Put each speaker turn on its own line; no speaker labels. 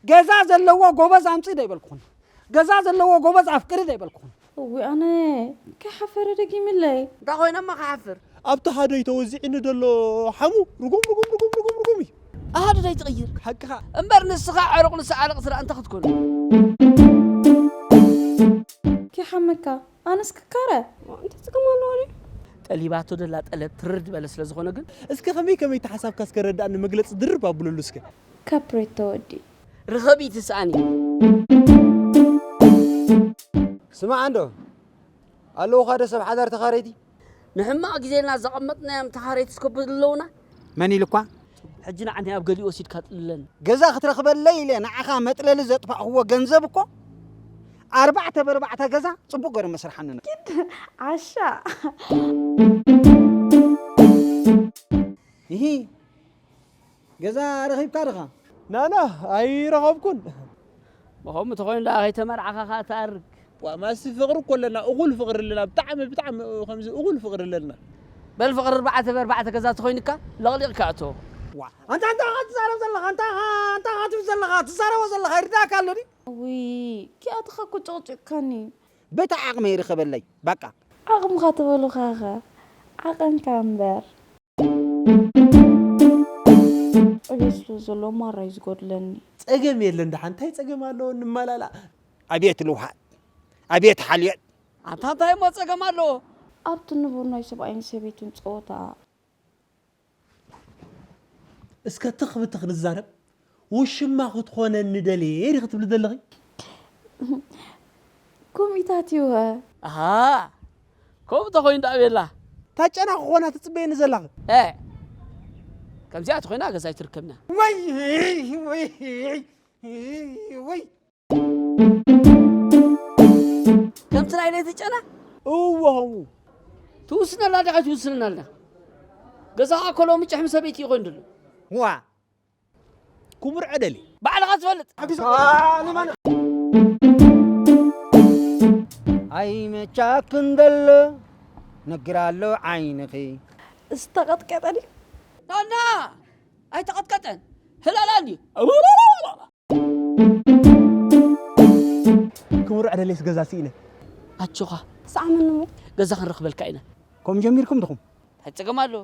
ገዛ ዘለዎ ጎበዝ ኣምፂ ዶ ይበልኩኹን ገዛ ዘለዎ ጎበዝ ኣፍቅሪ ዶ ይበልኩኹን እዊ ኣነ
ከሓፈረ ደጊምለይ እንታይ ኮይነማ ከሓፍር
ኣብቲ ሃደይ
ተወዚዕኒ ደሎ ሓሙ ርጉም ርጉም ርጉም ርጉም ርጉም እዩ ኣሃዱ ደይ
ትቕይር ሓቅኻ እምበር
ንስኻ
ዕሩቕ ንሰዓልቕ ስራ እንተ ክትኮኑ
ከይሓመካ ኣነስ ክካረ እንታይ ጽገም ኣለዎ
ድዩ? ጠሊባቶ ዘላ
ጠለብ ትርር ዝበለ ስለ ዝኾነ ግን። እስከ ከመይ ከመይ እቲ
ሓሳብካ እስከ ረዳኣኒ መግለጺ ድርብ ኣብለሉ እስከ። ካፕሬቶ
ወዲ። ርኸቢ እቲ
ስኣኒ።
ስማዕ እንዶ ኣለዉኻዶ ሰብ ሓዳር ተኻረይቲ። ንሕማቕ
ግዜና ዘቐመጥናዮም ተሃረይቲ ስከብዱ ኣለዉና። መን ኢሉኳ?
ሕጂ ንዓኒ ኣብ
ገሊኡ ወሲድካ ጥልለን። ገዛ ክትረኽበለይ
ኢለ ንዓኻ መጥለሊ ዘጥፋእክዎ ገንዘብ እኮ ኣርባዕተ በርባዕተ ገዛ ጽቡቕ ገሩ መስርሓኒ ነሩ። ኪድ ዓሻ። እሂ ገዛ ረኺብካ ድኻ? ናና
ኣይረኸብኩን። ሞኸምኡ
እንተኾይኑ ደኣ ከይተመርዓኻ ከኣ ትኣርግ። ዋእ ማስ ፍቅሪ
እኮ ኣለና እኩል ፍቅሪ ኣለና ብጣዕሚ ብጣዕሚ ከምዚ እኩል ፍቅሪ ኣለና። በል ፍቅሪ
ኣርባዕተ ብኣርባዕተ ገዛ ተኾይንካ ለቅሊቅካ ኣእትዎ። ዋእ ኣንታ እንታይ
ኢኻ ትዛረብ ዘለኻ እንታይ ኢኻ እንታይ ኢኻ ትብል ዘለኻ ትዛረቦ ዘለኻ ይርድኣካ ኣሎ ድዩ። ውይ
ኪኣትኻ እኮ ጨቅጭቅካኒ። በታ ዓቅመይ
ርኸበለይ ባቃ። ዓቅምኻ
ተበሉኻኸ ዓቀንካ እምበር። ጸገም ስለ ዘለዎ ማራ ዩ ዝጎድለኒ። ጸገም የለን ደሓን
እንታይ ጸገም ኣለዎ ንመላላእ። ኣቤት ልውሃት
ኣቤት ሓልዮት። ኣንታ እንታይ እሞ
ጸገም ኣለዎ። ኣብቲ ንቡር
ናይ ሰብኣይን ሰበይትን ጸወታ።
እስከ ትኽ ብትኽ ንዛረብ ውሽማ ክትኾነኒ ደልየ ዲኺ ትብሊ ዘለኺ?
ኮሚታት እዩ'ኸ። ኣሃ
ከምኡ ተኾይኑ ደኣ ቤላ። እታ ጨና ክኾና
ትጽበየኒ ዘለኺ? ኤእ
ከምዚኣ ተኾይና ገዛይ ትርከብና። ውይ ውይ
ውይ።
ከምቲ ናይ ለይቲ ጨና እዎ ከምኡ ትውስነላ ዲኻ ኣይትውስነናላ ገዛኻ እኮ ሎሚ ጭሕሚ ሰበይቲ እዩ ኮይኑ ድሎ ዋ
ክቡር ዕደሊ ባዕልኻ
ትፈልጥ
ኣይመቻክን ደሎ ነግር ኣሎ ዓይንኺ ዝተቐጥቀጠ
ድዩ ናና
ኣይተቐጥቀጠን ህላላን እዩ
ክቡር ዕደሌስ ገዛ ሲኢነ። ኣጆኻ
ሰዓመኒ እሞ
ገዛ ክንረኽበልካ
ኢና።
ከምኡ ጀሚርኩም
ድኹም።
ታይ ጸገም
ኣለዎ።